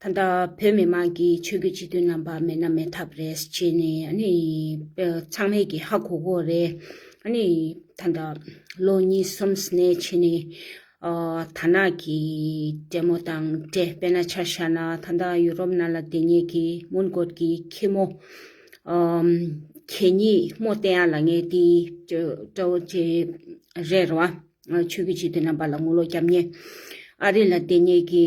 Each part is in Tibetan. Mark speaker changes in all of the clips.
Speaker 1: ད་ལྟ་བོད་མི་དམངས་ཀྱི་ཆོས་རྒྱུད་གཅིག་མཐུན་རྣམ་པ་མེད་ན་མེད་ཐབས་རེད་ཅེས་ནས་ཚང་མས་ཀྱི་ཧ་གོ་གོ་རེད། ད་ལྟ་ལོ་གཉིས་གསུམ་ནས་ཕྱི་ནས་ཐ་ན་གི་བགྲེས་མོ་དང་བགྲེས་དཔེ་ན་ཆ་ཤ་ན་ད་ལྟ་ཡུ་རོབ་ན་ལ་བདེ་ཉེས་ཀྱི་མུན་བསྐོར་གྱི་ཁྱི་མོ་གད་སྙིགས་རྨོ་བསྟན་ཡ་ལ་ངས་དེ་སྤྲོ་བོ་ཅེ་རེད་ར་བ། ཆོས་རྒྱུད་གཅིག་མཐུན་རྣམ་པ་ལ་ངོ་ལོ་བརྒྱབ་ཉེས། ཨ་རི་ལ་བདེ་ཉེས་ཀྱི།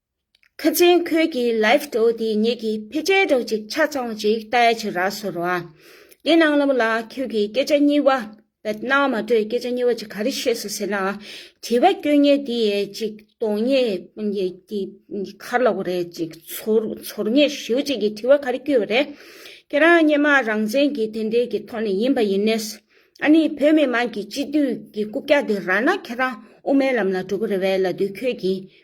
Speaker 1: ཁ་ཆེན་ཁོལ་གྱི་ལེབ་ཏོ་དེ་ཉིད་ཀྱི་ཕེ་ཅལ་སྒྲོག་ཅིག་ཆ་ཚང་ཅིག་ལྟ་ཡ་ཆུ་ར་སོ་ར་དེ་ནང་ལམ་ལ་ཁྱོད་ཀྱི་སྐད་ཆ་གཉིས་བ་བད་ན་མ་གྲོས་སྐད་ཆ་གཉིས་བ་ཅིག་ག་རེ་བཤད་སོ་ཟེར་ན་དྲི་བ་སྐྱོན་ཉེ་དེ་ཡས་ཅིག་དོང་ཉེ་དེ་ཁར་ལོག་རེ་ཅིག་ཚོར་ཉེ་ཞིའུ་ཅིག་གི་དྲི་བ་ག་རེ་སྐྱོ་བ་རེ་ཁྱེད་རང་སྙེ་མ་རང་བཙན་གྱི་དེ་འདྲས་ཀྱི་ཐོག་ནས་ཡིན་པ་ཡིན་ནས་ཨ་ནི་བོད་མི་དམངས་ཀྱི་སྤྱི་འཐུས་ཀྱི་རྐུབ་བཀྱག་དེ་ར་ན་ཁྱེད་རང་དབུ་མའི་ལམ་ལ་འགྲོ་གི་རེ་བས་ལ་དུས་ཁྱོད་ཀྱིས་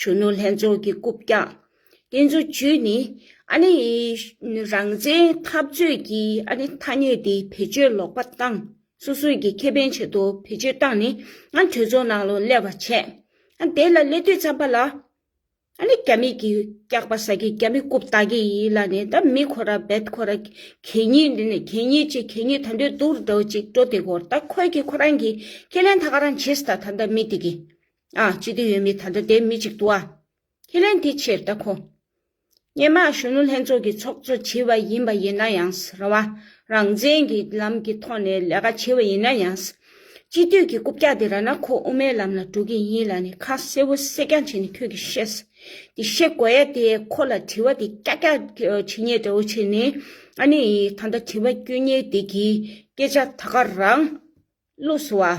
Speaker 1: གཞོན་ནུ་ལྷན་ཚོགས་ཀྱི་རྐུབ་བཀྱག་དེ་ཚོ་བརྒྱུད་ནས་ཨ་ནི་རང་བཙན་འཐབ་རྩོད་ཀྱི་ཨ་ནི་ཐ་སྙད་དེ་བེད་སྤྱོད་ལོག་པ་བཏང་སོ་སོས་ཀྱི་ཁེ་ཕན་ཆེད་དུ་བེད་སྤྱོད་བཏང་ནས་ཨ་གྲོས་ཚོགས་ནང་ལོ་སླེབས་པ་བྱས་ཨ་དེ་ལ་སླེབས་དུས་ཚར་པ་ལ་ཨ་ནི་རྒྱ་མི་གིས་བཀྱག་པ་ཟ་གི་རྒྱ་མི་རྐུབ་བཏགས་ཀྱི་ཡིན་ལ་ནི་ད་མི་ཁོ་ར་བེད་ཁོ་ར་གད་སྙིགས་འདི་ནི་གད་སྙིགས་ཅིག་གད་སྙིགས་ད་འདོད་དུག་ར་འདྲ་བོ་ཅིག་འགྲོ་དེ་སྐོར་ད་ཁོས་ཀྱི་ཁོ་རང་གི་ཁས་ལེན་ད་ག་རང་བྱེད་ད་ད་མི་དེ་གི་ཨ་ཅི་སྟེ་ཡོད་མེད་ད་ལྟ་དེ་མི་གཅིག་ཏུ་ཨ། ཁས་ལེན་དེ་ཕྱིར་ལྟ་ཁོ། སྙན་དམག་གཞོན་ནུ་ལྷན་ཚོགས་ཀྱི་ཚོགས་གཙོ་བྱིས་པ་ཡིན་པ་ཡིན་ན་ཡང་རང་དབང་རང་བཙན་གྱི་ལམ་གྱི་ཐོག་ནས་ལས་ཀ་བྱེད་པ་ཡིན་ན་ཡང། སྤྱི་འཐུས་ཀྱི་རྐུབ་བཀྱག་དེ་ར་ན་ཁོ་དབུ་མའི་ལམ་ལ་འགྲོ་གི་ཡིན་ལ་ནི་ཁ་གསལ་བོ་གསལ་རྐྱང་བྱས་ནས་ཁྱོད་ཀྱིས་བཤད། དེ་བཤད་དགོས་ཡ་དེ་ཁོ་ལ་དྲི་བ་དེ་ཀྱག་ཀྱག་བྱེད་ཉེས་འདྲ་བོ་བྱས་ནས་ཨ་ནི་ད་ལྟ་དྲི་བ་བསྐྱོན་ཉེས་དེ་གིས་སྐད་ཆ་ད་ག་རང། བླུགས་སོ་ཨ།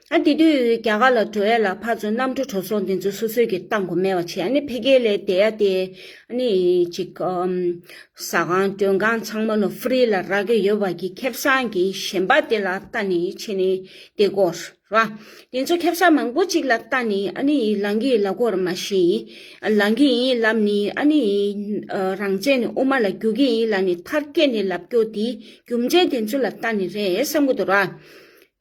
Speaker 1: ཨ་དེ་དུས་རྒྱ་གར་ལ་འགྲོ་ཡ་ལ་ཕར་ཚུར་གནམ་གྲུ་གྲོ་སོང་དེ་ཚོ་སོ་སོས་ཀྱི་ཏང་གོ་མེད་བ་བྱེད་ཨ་ནི་འཕེལ་རྒྱས་ལས་བསྡད་ཡ་དེ་ཨ་ནི་ཅིག་ཟ་ཁང་མགྲོན་ཁང་ཚང་མ་ལོ་ཧྥུ་རི་ལ་རག་གི་ཡོད་བ་གི་ཁེབ་བསང་གི་ཞེན་པ་དེ་ལ་ལྟ་ནི་ཆེ་ནི་དེ་དགོ་ར་བ་དེ་ཚོ་ཁེབ་བསང་མང་པོ་ཅིག་ལ་ལྟ་ནི་ཨ་ནི་ལང་གི་ལ་གོ་ར་མ་ཤི་ལང་གི་ཡིན་ལབ་ནི་ཨ་ནི་རང་བཙན་ནི་དབུ་མ་ལ་རྒྱུག་གི་ཡིན་ལ་ནི་མཐར་སྐྱེས་ནི་ལབ་རྒྱོ་དེ་རྒྱུ་མཇལ་དེ་ཚོ་ལ་ལྟ་ནི་རེད་བསམ་གོ་དོ་ར།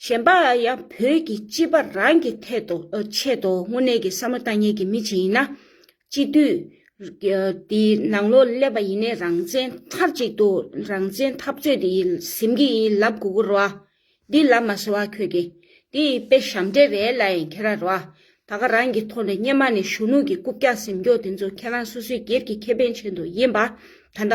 Speaker 1: གཞན་པ་ཡང་བོད་ཀྱི་སྤྱི་པ་རང་གི་ཐད་དུ་ཆེད་དུ་དངོས་གནས་ཀྱི་བསམ་བློ་ལྟ་ཉན་གྱི་མི་ཆེན་ཡིན་ན། སྤྱི་འཐུས་དེ་ནང་ལོག་སླེབས་པ་ཡིན་ནའི་རང་བཙན་མཐར་གཅིག་ཏུ་རང་བཙན་འཐབ་རྩོད་དེ་ཡི་ཟིམ་གྱི་ཡིན་ལབ་གུ་གུ་རུ་བ། འདི་ལབ་མ་ཟེར་བ་ཁྱོད་ཀྱི་དེ་ཡི་དཔེ་ཞབས་འདྲེ་རེད་ལ་ཡང་ཁྱེད་ར་རུ་བ། ད་ག་རང་གི་ཐོག་ནས་སྙེ་མ་ནས་གཞོན་ནུ་གྱི་རྐུབ་བཀྱག་ཟིམ་སྐྱོག་དེ་ཚོ་ཁྱེད་རང་སོ་སོའི་སྒེར་གྱི་ཁེ་ཕན་ཆེན་དུ་ཡིན་པ་ད་ལྟ།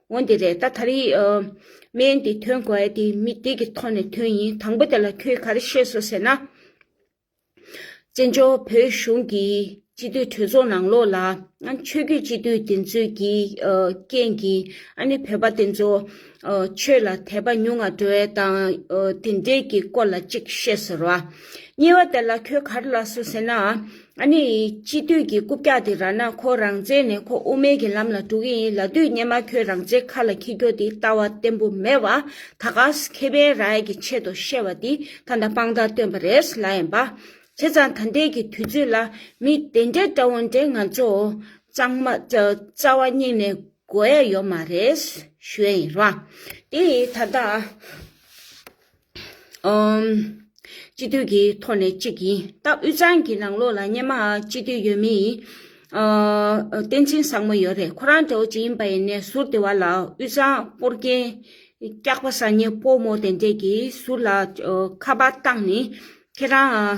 Speaker 1: འོན་ཏེ་རེད་ད་ད་རེས་སྨན་དེ་ཐོན་དགོས་ཡ་དེ་མི་དེ་གི་ཐོག་ནས་ཐོན་ཡིན་དང་པོ་དེ་ལ་ཁྱོས་ག་རེ་ཤེས་སོ་ཟེར་ན། བཙན་བྱོལ་བོད་གཞུང་གི་སྤྱི་འཐུས་གྲོས་ཚོགས་ནང་ལོགས་ལ་ཆོས་རྒྱུད་སྤྱི་འཐུས་དེ་ཚོས་ཀྱི་རྐྱེན་གྱིས་ཨ་ནི་བོད་པ་དེ་ཚོ་ཆོས་ལ་དད་པ་ཉུང་ང་འགྲོ་ཡ་དང་དེ་འདྲའི་གི་སྐོར་ལ་ཅིག་ཤེས་ཟེར་བ། གཉིས་བ་དེ་ལ་ཁྱོས་ག་རེ་ལ་སོ་ཟེར་ན། ཨ་ནེ་ཡིས་སྤྱི་འཐུས་ཀྱི་རྐུབ་བཀྱག་དེ་རག་ན་ཁོ་རང་བཙལ་ནས་ཁོ་དབུ་མེད་ཀྱི་ལམ་ལ་འགྲོ་གི་ཡིན་ལ་དུས་སྙེ་མ་ཁྱོད་རང་བཙལ་ཁ་ལ་འཁྱིལ་འགྱོ་དེ་ལྟ་བ་བརྟན་པོ་མེད་བ་ད་ག་ཟེ་ཁེ་བན་རའི་གྱི་ཆེད་དུ་བཤད་བ་དེ་ད་ད་པང་དར་སྟོན་པ་རེད་ལ་ཡན་པ། བྱས་ཙང་ད་འདས་ཀྱི་དུས་ཚོད་ལ་མི་དེ་འདྲ་འདྲ་བོ་འདྲ་ང་ཚོ་གཙང་མ་རྩ་བ་སྙིང་ནས་དགོས་ཡ་ཡོད་མ་རེད་ཞུ་ཡ་ཡིན་རང་དེ་ད་ད། སྤྱི་འཐུས་ཀྱི་ཐོག་ནས་གཅིག་ཡིན་སྟབས་དབུས་གཙང་གི་ནང་ལོགས་ལ་སྙེ་མ་སྤྱི་འཐུས་ཡོད་མི་ཡིན། བསྟན་འཛིན་བཟང་མོ་ཡོད་རེད་ཁོ་རང་དགྲ་བོ་གཅིག་ཡིན་པ་ཡིན་ནའི་ཟུར་དེ་བ་ལ་དབུས་གཙང་སྤོར་རྒྱན་སྐྱག་པ་སང་ཉིན་སྤོ་མོ་དེ་འདྲས་ཀྱི་ཟུར་ལ་ཁ་པར་བཏང་ནས་ཁྱེད་རང།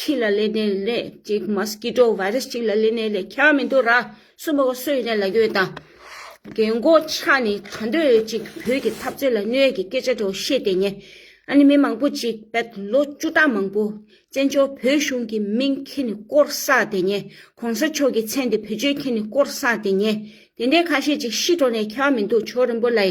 Speaker 1: ཁྱི་ལ་ལས་ནད་ལས་གཅིག Mosquito Virus གཅིག་ལ་ལས་ནད་ལས་ཁྱ་མི་འདུག་ར་སུ་མོ་གོ་སུ་ཡིན་ནས་ལ་གྱོད་དང། རྒན་མགོ་ཆ་ནི་ག་འདོད་ཅིག་བོད་ཀྱི་འཐབ་རྩོད་ལ་གནོད་ཀྱི་སྐད་ཆ་དྲོ་བཤད་དེ་ཉེ། ཨ་ནི་མི་མང་པོ་ཅིག་བད་ལོ་བཅུ་ཕྲག་མང་པོ་བཙན་བྱོལ་བོད་གཞུང་གི་མིང་ཁྱི་ནི་བསྐོར་བསགས་དེ་ཉེ་གོང་ས་མཆོག་གི་མཚན་དེ་བོད་ཆོལ་ཁྱི་ནི་བསྐོར་བསགས་དེ་ཉེ་དེ་འདྲའི་ཁ་ཤས་ཅིག་ཤི་འགྲོ་ནས་ཁྱ་མི་འདུག་ཆོ་རིན་པོ་ལའི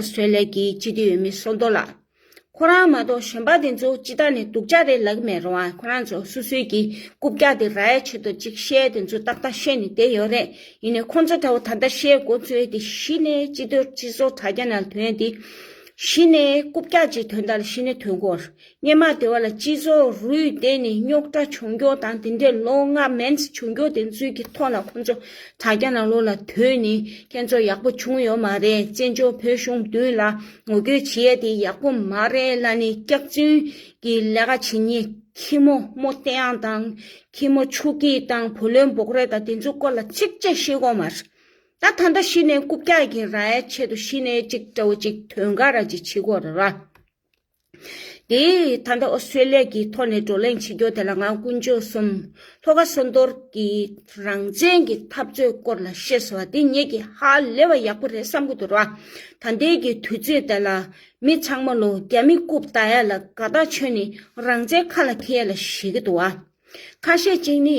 Speaker 1: Australia གྱི་སྤྱི་འཐུས་འོས་མི་སོ་དོ་ལགས། ཁོ་རང་མ་གཏོགས་གཞོན་པ་དེ་ཚོ་ཅི་ལྟར་ནས་སྡུག་ཅག་རེད་ལགས་མེད་རུང་ང་ཁོ་རང་ཚོ་སུ་སུའི་གྱི་རྐུབ་བཀྱག་སྟེ་ར་ཡ་བྱེད་དོ་ཅིག་བཤད་དེ་ཚོ་ཏག་ཏག་ཤོད་ནས་བསྡད་ཡོད་རེད་ཡིན་ནས་ཁོ་ཚོ་ད་བོ་ད་ལྟ་བཤད་མགོ་བཙོས་ཏེ་གཞི་ནས་སྤྱི་འཐུས་སྤྱི་ཟོག་དྲ་རྒྱ་ནང་དོན་དེ། གཞི་ནས་རྐུབ་བཀྱག་ཅིག་དོན་དང་གཞི་ནས་དོན་གོ། སྙེ་མ་དེ་བ་ལ་སྤྱི་ཚོགས་རུས་གཏན་ནས་རྙོག་དྲ་བྱུང་མགྱོགས་དང་དེ་འདྲའི་བློ་ངག་མནས་བྱུང་མགྱོགས་དེ་ཚོའི་གི་ཐོག་ལ་ཁོང་ཚོ་དྲ་རྒྱ་ནང་ལོག་ལ་དུས་ནས་ཁྱེད་ཚོ་ཡག་པོ་བྱུང་ཡོད་མ་རེད་བཙན་བྱོལ་བོད་གཞུང་དུས་ལ་ངོ་རྒོལ་བྱེད་ཡ་དེ་ཡག་པོ་མ་རེད་བླ་ནས་སྐྱག་རྫུན་གི་ལས་ཀ་བྱེད་ཉེ་ཁྱི་མོ་རྨོ་རྟེ་ཡང་དང་ཁྱི་མོ་ཆུ་སྐྱི་དང་བུ་ལོན་འབོག་རེད་ད་དེ་ཚོའི་སྐོར་ལ་ཚིག་བཅད་ཤེས་དགོས་མ་རེད་ད་ད་འདྲ་ཤི་ནས་རྐུབ་བཀྱག་གི་ར་ཡ་ཆེད་དུ་ཤི་ནས་ཅིག་དྲ་བོ་ཅིག་དོན་ག་ར་ཅིག་བྱེད་དགོས་རེད་ར། དེས་ད་ལྟ་ཨོ་སི་ཀྲི་ལེ་ཀྱི་ཐོག་ནས་བགྲོ་གླེང་བྱེད་རྒྱུ་དེ་ལ་ང་ཀུན་སྤྱོད་གསུམ་ལྷོ་ཁ་སོན་རྡོར་གྱི་རང་བཙན་གྱི་འཐབ་རྩོད་སྐོར་ལ་ཤེས་སོང་བ་དེ་ངེད་ཀྱི་ཧ་ལས་བ་ཡག་པོ་རེད་བསམ་གྱི་འདུག་ད་ལྟའི་གི་དུས་ཚོད་དེ་ལ་མི་ཚང་མ་ལོ་རྒྱ་མི་རྐུབ་བལྟ་ཡ་ལ་དགའ་ཐག་ཆོད་ནི་རང་བཙན་ཁ་ལ་འཁྱེར་ཡ་ལ་ཤེས་གྱི་འདུག་ཁ་ཤས་གཅིག་ནི་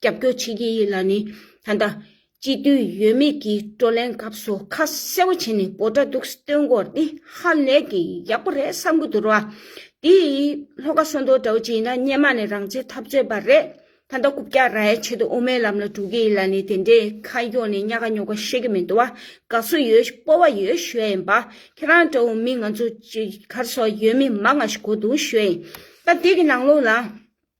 Speaker 1: རྒྱབ་སྐྱོར་བྱེད་ཀྱི་ཡོད་ལ་ནི་ད་ལྟ། སྤྱི་འཐུས་ཡོད་མེད་ཀྱི་བགྲོ་གླེང་སྐབས་སུ་ཁ་གསལ་བོ་བྱས་ནས་འབོ་དྲ་དུག་སེལ་དོན་སྐོར་འདི་ཧ་ལས་ཀྱི་ཡག་པོ་རེད་བསམ་གི་འདུག་ར། དེ་ཡིས་ལྷོ་ཁ་སོ་མདོ་འདྲ་བོ་ཅིག་ཡིན་ན་སྙེ་མ་ནས་རང་བྱེད་ཐབས་རྩོད་པ་རེད། ད་ལྟ་རྐུབ་བཀྱག་ར་ཡའི་ཆེད་དུ་དབུ་མའི་ལམ་ལ་འགྲོ་གི་ཡིན་ལ་ནི་དེ་འདྲའི་ཁ་གཡོག་ནས་གཉའ་ཁ་རྙོག་པ་ཤེས་ཀྱི་མི་འདུག་བ། དགའ་བསུ་ཡོད་སྤོ་བ་ཡོད་ཞུ་ཡ་ཡིན་པ། ཁྱེད་རང་འདྲ་བོ་མི་ང་ཚོ་གར་སོག་ཡོད་མི་མ་ང་ཞིག་གོ་འདུག་ཞུ་ཡ་ཡིན། ད་དེ་གི་ནང་ལོགས་ལ།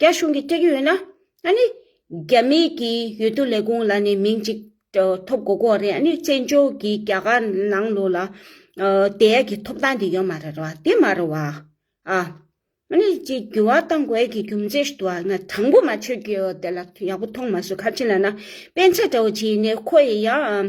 Speaker 1: རྒྱ་གཞུང་གིས་སྤྲད་ཀྱི་ཡོད་ན། ཨ་ནི། རྒྱ་མི་གིས་ཡོད་དུ་ལས་ཁུངས་ལ་ནས་མིང་གཅིག་ཐོབ་དགོས་གོ་རེད་ཨ་ནི་བཙན་བྱོལ་གྱི་རྒྱ་གར་ནང་ལོགས་ལ། དེ་ཡག་གི་ཐོབ་ཐང་དེ་ཡོད་མ་རེད་བ་དེ་མ་རེད་བ། ཨ་ནི་ཅི་འགྱུར་བ་བཏང་དགོས་ཀྱི་རྒྱུ་མཚན་ཞིག་འདུག་ང་དྲང་པོ་མ་ཆོད་ཀྱི་ཡོད་དེ་ལ་ཡག་པོ་མཐོང་མ་སོང་ཁ་ཆེ་ལ་ན་སྤེན་ཚེ་འདྲ་བོ་བྱས་ནས་ཁོ་ཡི་ཡང།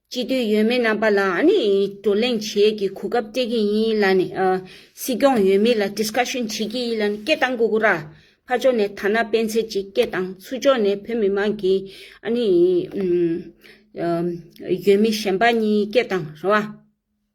Speaker 1: སྤྱི་འཐུས་ཡོད་མེད་རྣམ་པ་ལ་ནི་བགྲོ་གླེང་བྱེད་ཀྱི་གོ་སྐབས་སྤྲད་ཀྱི་ཡིན་ལ་ནི། སྲིད་སྐྱོང་ཡོད་མེད་ལ Discussion བྱེད་ཀྱི་ཡིན་ལ་ནི་སྐད་བཏང་གོ་གོ་ར། ཕར་ཕྱོགས་ནས་ཐ་ན་སྤེན་ཚེ་གཅིག་སྐད་བཏང་ཚུར་ཕྱོགས་ནས་བོད་མི་མང་གི་ཨ་ནི། ཡོད་མེད་གཞན་པ་གཉིས་སྐད་བཏང་རེད་བ།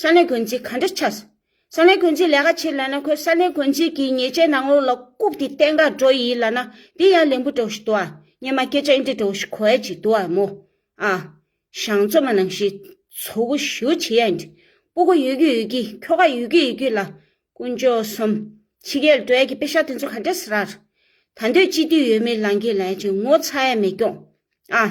Speaker 1: ས་གནས་དགོན་སྡེ་ག་འདྲ་ཆགས། ས་གནས་དགོན་སྡེ་ལས་ཀ་བྱེད་ལ་ན་ཁོས་ས་གནས་དགོན་སྡེ་གྱི་ཉེས་ཆད་ནང་ལོགས་ལ་བཀུག་སྟེ་བསྟན་དགག་འགྲོ་ཡི་ལ་ན་འདི་ཡང་ལན་བུ་འགྲོ་བཞིན་འདུག་ཨ་སྙེ་མ་སྐད་ཆ་འི་འདྲ་འདྲ་བོ་ཞིག་གོ་ཡ་གཅིག་འདུག་ཨ་མོ། ཨ། ཞང་བཙོ་མ་ནང་བཞིན་ཚོ་གུ་ཞུ་བྱེད་ཡ་འི་འདྲ། པུ་གུ་ཡོད་ཀྱི་ཡོད་ཀྱི་ཁྱོ་ག་ཡོད་ཀྱི་ཡོད་ཀྱི་ལ། དཀོན་མཆོག་གསུམ། ཕྱི་རྒྱལ་ལ་འགྲོ་ཡ་གྱི་དཔེ་ཤག་དེ་ཚོ་ག་འདྲ་ཟེར་ར། ད་འདོད་སྤྱི་འཐུས་ཡོད་མེད་ལང་གི་ལང་ཡ་ཅིག་ངོ་ཚ་ཡ་མེད་སྐྱོང། ཨ།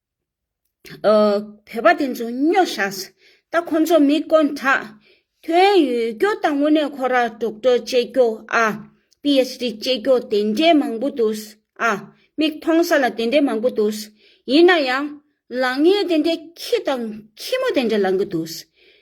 Speaker 1: བོད་པ་དེ་ཚོ་སྨྱོ་བཞགས། ད་ཁོ་ཚོ་མི་དཀོན་དྲགས། དོན་ཡོད་རྒྱུ་དང་དངོས་གནས་ཁོ་ར་དཀྲོག་དཀྲོག་བྱེད་རྒྱུ་ཨ། PHD བྱེད་རྒྱུ་དེ་འདྲའི་མང་པོ་འདུག་ཨ། མིག་མཐོང་ས་ལ་དེ་འདྲའི་མང་པོ་འདུག། ཡིན་ན་ཡང། ལག་ངན་དེ་འདྲའི་ཁྱི་དང་ཁྱི་མོ་དེ་འདྲ་ལང་གི་འདུག།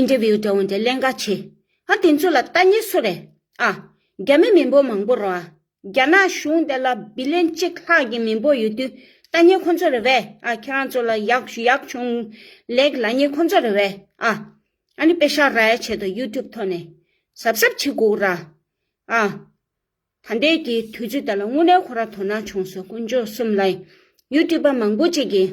Speaker 1: interview དེ་འོན་ཏེ་ཀླན་ཀ་ཆེ། ཧ་དེ་ཚོ་ལ་ལྟ་ཉེས་སུ་རེད་ཨ། རྒྱ་མི་མི་འབོ་མང་པོ་རོ་ཨ། རྒྱ་ནག་གཞུང་དེ་ལ་བི་ལེན་གཅིག་ལྷག་གི་མི་འབོ་ཡོད་དུས་ལྟ་ཉེས་ཁོ་ཚོ་རེད་བས་ཨ་ཁྱེད་རང་ཚོ་ལ་ཡག་ཡག་བྱུང། ལེགས་ལ་ཉེས་ཁོ་ཚོ་རེད་བས་ཨ། ཨ་ནི་པེ་ཤར་ར་ཡ་ཆེད་དུ youtube ཐོག་ནས་གཟབ་གཟབ་བྱེད་དགོས་ར་ཨ། ད་འདས་ཀྱི་དུས་ཚོད་དེ་ལ་དངོས་གནས་ཁོ་ར་དོ་སྣང་བྱུང་སོ་དཀོན་མཆོག་གསུམ་ལ་ཡིན youtube པ་མང་པོ་ཅིག་གིས།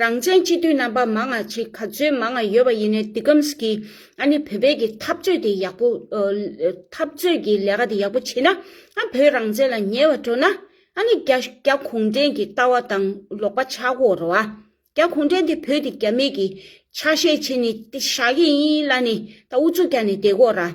Speaker 1: རང་བཙན་སྤྱི་འཐུས་རྣམ་པ་མང་ང་གཅིག་ག་ཚོད་མང་ང་ཡོད་པ་ཡིན་ནའི་འདི་ཀམས་ཀྱི་ཨ་ནི་བོད་པའི་གི་འཐབ་རྩོད་དེ་ཡག་པོ་འཐབ་རྩོད་གི་ལས་ཀ་དེ་ཡག་པོ་བྱེད་ན་ཨ་བོད་རང་བཙན་ལ་ཉེ་བ་འགྲོ་ན་ཨ་ནི་རྒྱ་རྒྱ་གུང་བྲན་གི་ལྟ་བ་དང་ལོག་པ་ཆག་གོ་རོ་ཨ་རྒྱ་གུང་བྲན་དེ་བོད་དེ་རྒྱ་མེད་གི་ཆ་ཤས་བྱེད་ནི་ཏི་ཤ་གི་ཡིན་ལ་ནི་ད་ཨུ་ཚུགས་རྒྱ་ནི་བསྡད་གོ་ར།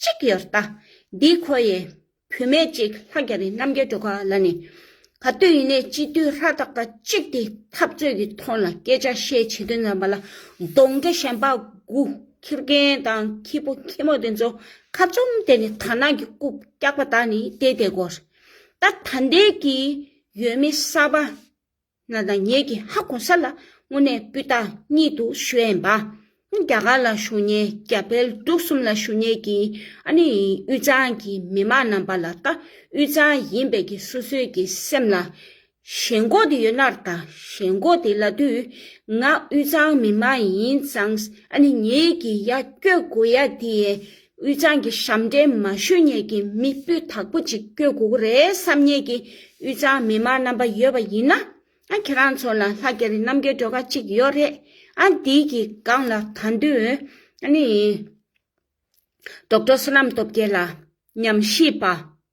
Speaker 1: གཅིག་ཡོད་རྟ། འདིའི་ཁོ་ཡེ། བུད་མེད་གཅིག་ལྷ་རྒྱ་རི་རྣམ་རྒྱལ་སྒྲོལ་དཀར་ལ་ནི། ག་བཏུས་ཡིན་ནས་སྤྱི་འཐུས་ལྷ་སྟག་པ་གཅིག་དེ་འཐབ་རྩོད་ཀྱི་ཐོག་ལ་སྐད་ཆ་བཤད་བྱེད་དུ་བསྣམས་པ་ལ་གདོང་དགེ་གཞན་དཔའ་དགུ་ཁྱི་རྒན་དང་ཁྱི་ཕོ་ཁྱི་མོ་དེ་ཚོ་ཁ་བཙུམ་བསྡད་ནས་དར་ནག་གི་རྐུབ་བཀྱགས་པ་དག་ནི་བལྟས་བལྟས་སྒོར། ད་ད་འདས་ཀྱི་ཡོད་མི་གསར་པ། ང་དང་ངེད་ཀྱི་ཧ་གོ་ས་ལ་དངོས་གནས་སྤུས་དག་གཉིད་དུ་ཞོན་པ། རྒྱ་གར་ལ་ཞུ་ཉེན་རྒྱ་བལ་འབྲུག་གསུམ་ལ་ཞུ་ཉེན་གྱི་ཨ་ནི་དབུས་གཙང་གི་མི་མང་རྣམས་པ་ལ་ལྟ་དབུས་གཙང་ཡིན་པས་ཀྱི་སོ་སོའི་ཀྱི་སེམས་ལ་ཞེན་གོ་དེ་ཡོད་ནར་ད་ཞེན་གོ་དེ་ལ་དུས་ང་དབུས་གཙང་མི་མང་ཡིན་ཙང་ཨ་ནི་ངེད་ཀྱི་ཡ་སྐྱོད་གོ་ཡ་དེ་ཡས་དབུས་གཙང་གི་ཞབས་འདྲེན་མ་ཞུ་ཉེས་ཀྱི་མི་སྤུས་དག་པོ་ཅིག་བསྐྱོད་དགོས་ཀྱི་རེད་བསམ་ཉེས་ཀྱི་དབུས་གཙང་མི་མང་རྣམ་པ་ཡོད་པ་ཡིན་ན། ཁྱེད་རང་ཚོ་ལ་ལྷ་རྒྱ་རི་རྣམ་རྒྱལ་སྒྲོལ་དཀར་ཅིག་ཡོད་རེད། འདི་ཡི་སྒང་ལ་ད་འདུན། ནི། རྡོག་བྲོ་བསོད་ནམས་སྟོབས་རྒྱལ་ལ། ཉམས་ཞིབ་པ།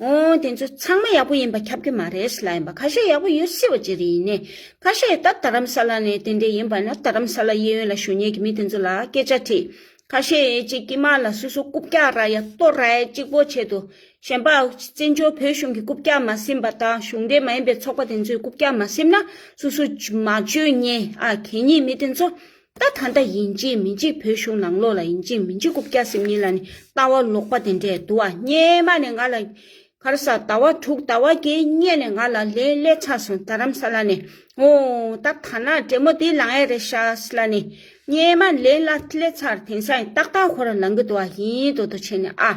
Speaker 1: ཨོ་དེ་ཚོ་ཚང་མ་ཡག་པོ་ཡིན་པ་ཁྱབ་ཀྱི་མ་རེད་སླ་ཡིན་པ་ཁ་ཤས་ཡག་པོ་ཡོད་སྲིད་པ་ཅི་རིགས་ཡིན་ནའི་ཁ་ཤས་ད་དྷ་རམ་ས་ལ་ནས་དེ་འདྲས་ཡིན་པ་ན་དྷ་རམ་ས་ལ་གཡས་གཡོན་ལ་བཞུགས་ཉེས་ཀྱི་མི་དེ་ཚོ་ལ་སྐད་ཆ་དྲིས་ཁ་ཤས་ཀྱི་དཀྱིལ་མ་ལ་སུ་སུ་རྐུབ་བཀྱག་ར་ཡ་གཏོར་ར་ཡ་གཅིག་པོ་བྱེད་དུ་ཞེན་པའོ་བཙན་བྱོལ་བོད་གཞུང་གི་རྐུབ་བཀྱག་མ་ཟིན་པ་དང་གཞུང་འབྲེལ་མ་ཡིན་པའི་ཚོགས་པ་དེ་ཚོའི་རྐུབ་བཀྱག་མ་ཟིན་ན་སུ་སུ་མ་བཅོས་ཉེས་ཨ་གད་སྙིགས་མི་དེ་ཚོ་ད་ད་ལྟ་ཡིན་གཅིག་མིན་གཅིག་བོད་གཞུང་ནང་ལོགས་ལ་ཡིན་གཅིག་མིན་གཅིག་རྐུབ་བཀྱག་སེམས་ཉིད་ལ་ནི་ལྟ་བ་ལོག་པ་དེ་འདྲས་འདུག་ཨ་སྙེ་མ་ནས་ང་ལ་གར་ས་ཟླ་བ་དྲུག་ཟླ་བ་བརྒྱད་བསྙེན་ནས་ང་ལ་ལས་སླད་ཚར་སོང་རྡ་རམ་ས་ལ་ནས་ཨོ་ད་ད་ན་བྲེ་མོ་དེ་ལང་ཡས་རེད་ཤག་ས་ལ་ནས་སྙེ་མ་ལས་སླད་ཚར་དེང་སང་ཡིན་ཏག་ཏག་ཁོ་རང་ལང་གི་འདུག་ཨ་ཡིན་དོ་དོ་བྱས་ནས་ཨ།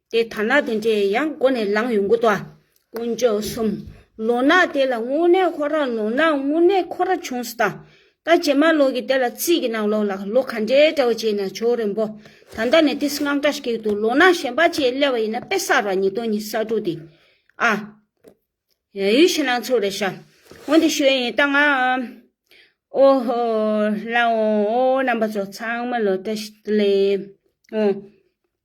Speaker 1: དེ་ཐ་ན་དེ་འདྲས་ཡང་མགོ་ནས་ལངས་ཡོང་གི་འདུག་དཀོན་མཆོག་གསུམ། ལོ་ན་དེ་ལ་དངོས་གནས་ཁོ་རང་ལོ་ན་དངོས་གནས་ཁོ་ར་བྱུང་སི་དང། ད་རྗེས་མ་ལོ་གི་དེ་ལ་རྩིས་ཀྱི་ནང་ལོ་ལ་ལོ་ག་འདྲའི་འདྲ་བ་བྱས་ན་ཆོག་རེན་པོ། ད་ལྟ་ནས་དེ་སི་སྔགས་འདྲ་ཞིག་ཏུ་ལོ་ན་གཞན་པ་བཅས་སླེ་བ་ཡིན་ན་དཔེ་གསར་བ་ཉིས་སྟོང་ཉི་ས་དྲུག་འདི་ཨ། ཡ་ཡུལ་ཕྱི་ནང་ཚུར་རེ་ཤ། འོ་འདི་ཤོད་ཡིན་ད་ང། ཨོ་ཧོ། ལ་འོ་ཨོ་རྣམ་པ་ཚོ་ཚང་མ་ལོ་ཏ་ཞིག་ཏུ་སླེ། འོ།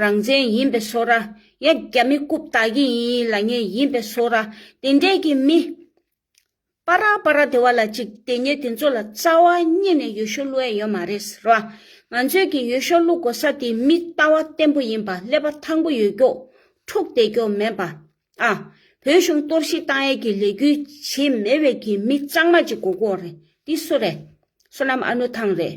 Speaker 1: རང་བཙན་ཡིན་པས་སོ་ར་ཡ་རྒྱ་མི་རྐུབ་ལྟག་གི་ཡིན་ཡིན་ལ་ཉེ་ཡིན་པས་སོ་ར་དེ་འདྲས་ཀྱི་མི། པ་ར་པ་ར་དེ་བ་ལ་ཅིག་དེ་ཉེ་དེ་ཚོ་ལ་རྩ་བ་རྙེད་ནས་ཡོ་ཤོ་བླུ་ཨེ་ཡོད་མ་རེད་ར་ང་ཚོས་ཀྱི་ཡོ་ཤོ་བླུ་དགོ་ས་དེ་མི་ལྟ་བ་བརྟན་པོ་ཡིན་པ་ཀླད་པ་ཐང་པོ་ཡོད་ཀྱོག་འཁྲུག་བསྡད་ཀྱོག་མེད་པ་ཨ་བོད་གཞུང་གཏོར་བཤིག་བཏང་ཡས་ཀྱི་ལས་འགུལ་བྱེད་མེད་བས་ཀྱི་མི་གཙང་མ་ཅིག་གོ་གོ་རེད་འདི་སུ་རེད་སོ་ནམ་ཨ་ནུ་ཐང་རེད།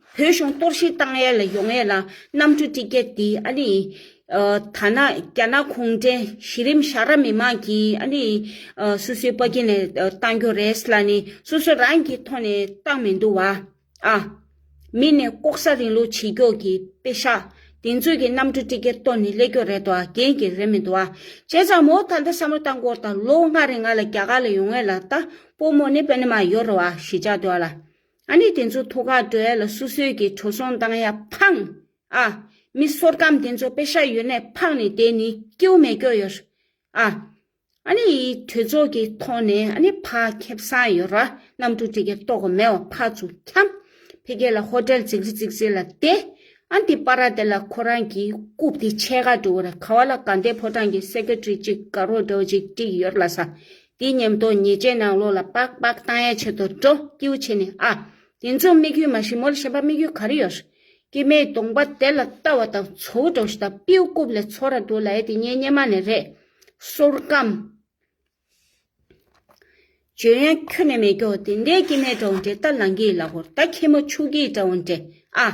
Speaker 1: བོད་གཞུང་གཏོར་བཤིག་བཏང་ཡས་ལ་ཡོང་ཡས་ལ་གནམ་གྲུ་ཏི་ཀེ་ཏི་ཨ་ནི། ཐ་ན་རྒྱ་ནག་གུང་ཁྲན་གཞི་རིམ་བཞག་ར་མི་མང་གིས་ཨ་ནི། སུ་སུའི་པ་ཀི་ནས་བཏང་རྒྱུ་རེད་ལ་ནི་སོ་སོ་རང་གིས་ཐོག་ནས་བཏང་མི་འདུག་བ། ཨ། མི་ནི་ལྐོག་ཟ་རིང་ལུགས་བྱེད་ཀྱོག་གི་པེ་ཤ་དེ་ཚོས་གི་གནམ་གྲུ་ཏི་ཀེ་གཏོར་ནི་ལེགས་ཀྱོག་རེད་དོ་གན་གི་རེད་མི་འདུག་བ། བྱས་ཙང་མོ་ད་ལྟ་བསམ་བློ་བཏང་སྐོར་དང་ལོ་ལྔ་རིང་ང་ལ་རྒྱ་གར་ལ་ཡོང་ཡས་ལ་ད་པོ་མོ་ནི་པེ་ནི་མ་ཡོ་རོ་བ་ཞེས་བྱ་འདུག་བ་ལ། ཨ་ནི་དེ་ཚོ་ཐོ་ཁ་བྲོ་ཡ་ལ་སུ་སོད་ཀྱི་བྲོ་སོང་བཏང་ཡ་ཕང། ཨ། མི་སོར་སྐམ་དེ་ཚོ་པེ་ཤ་ཡོད་ནས་ཕག་ནི་དེ་ནི་ཀེའུ་མེ་ཀྱོ་ཡོར། ཨ། ཨ་ནི་ཡི་གྲོས་ཚོགས་ཀྱི་ཐོག་ནས་ཨ་ནི་ཕ་ཁེབ་སང་ཡོར་ར་ནམ་ཐུ་ཏི་ཀེ་ཏོ་གོ་མེ་བ་ཕ་ཚུ་ཁྱམ། ཕེ་ཀེ་ལ་ཧོ་ཏེལ་ཙིག་རི་ཙིག་ཙི་ལ་ཏེ། ཨ་ཏི་པ་ར་ཏེ་ལ་ཁོ་རང་གི་རྐུབ་ཏི་ཆད་ཁ་བྲོ་བ་ར་ཁ་བ་ལ་ག་འདེ་ཕོ་ཏང་གི་སེ་ཀེ་ཏྲི་ཅིག་ག་རོ་བྲོ་བ་ཅིག་ཏྲིག་ཡོར་ལ་ས་དེའི་ཉམས་རྟོགས་ཉེས་སྤྱད་ནང་ལོགས་ལ་པགས་པགས་བཏང་ཡས་བྱེད་དོ་སྤྲོ་སྐྱིའུ་བྱས་ནས་ཨ། དེ་ཚོ་དམིགས་ཡུལ་མ་ཞི་མོ་ལ་ཞེན་པ་དམིགས་ཡུལ་ག་རེ་ཡོད། སྐྱེ་མེད་སྟོང་པ་དེ་ལ་ལྟ་བ་དང་ཚོ་བོ་དྲོ་ཞི་དང་པིའུ་རྐུབ་ལས་ཚོ་ར་འདུག་ལ་ཡས་དེ་ཉེས་ཉེས་མ་ནས་རེད། སོར་སྐམ། བྱོན་ཡས་ཁྱོད་ནས་མེད་སྐྱོ་དེ་འདྲའི་སྐྱེ་མེད་དྲོ་འདྲེ་ལྟ་ལང་གིས་ལ་གོར་ལྟ་ཁྱི་མོ་ཕྱུགས་ཀྱིས་དྲོ་འདྲེ་ཨ།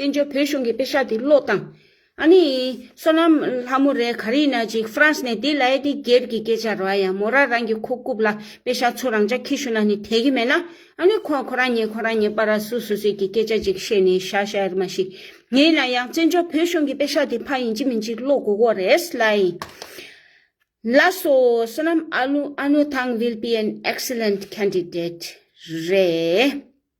Speaker 1: བཙན་བྱོལ་བོད་གཞུང་གི་དཔེ་ཆ་དེ་ཀློག་དང། ཨ་ནི། བསོད་ནམས་ལྷ་མོ་རེད་ག་རེ་ན་ཅིག་ཧྥ་རན་སི་ནས་དེ་ལའེ་དེ་སྒེར་གྱི་སྐད་ཆ་རོ་ཡ་མོ་ར་རང་གི་ཁོ་རྐུབ་ལ་དཔེ་ཆ་ཚུར་རང་ཅག་ཁྱི་ཤུ་ན་ནི་དད་གི་མེད་ན་ཨ་ནི་ཁོ་ཁོ་རང་ཉིད་ཁོ་རང་ཉིད་པ་ར་སུ་སུ་སི་གི་སྐད་ཆ་ཅིག་བཤད་ནི་ཤ་ཤ་རི་མ་ཤི་ངེད་ལ་ཡང་བཙན་བྱོལ་བོད་གཞུང་གི་དཔེ་ཆ་དེ་ཕ་ཡིན་ཅི་མིན་ཅིག་ཀློག་དགོས་གོ་རེད་སླའི། ལ་སོ་བསོད་ནམས་ཨ་ལུ་ཨ་ནུ་ཐང་ཝིལ་པི་ཨེན་ཨེཀ་སི་ལེནད་ཁན་དི་དེད་རེད།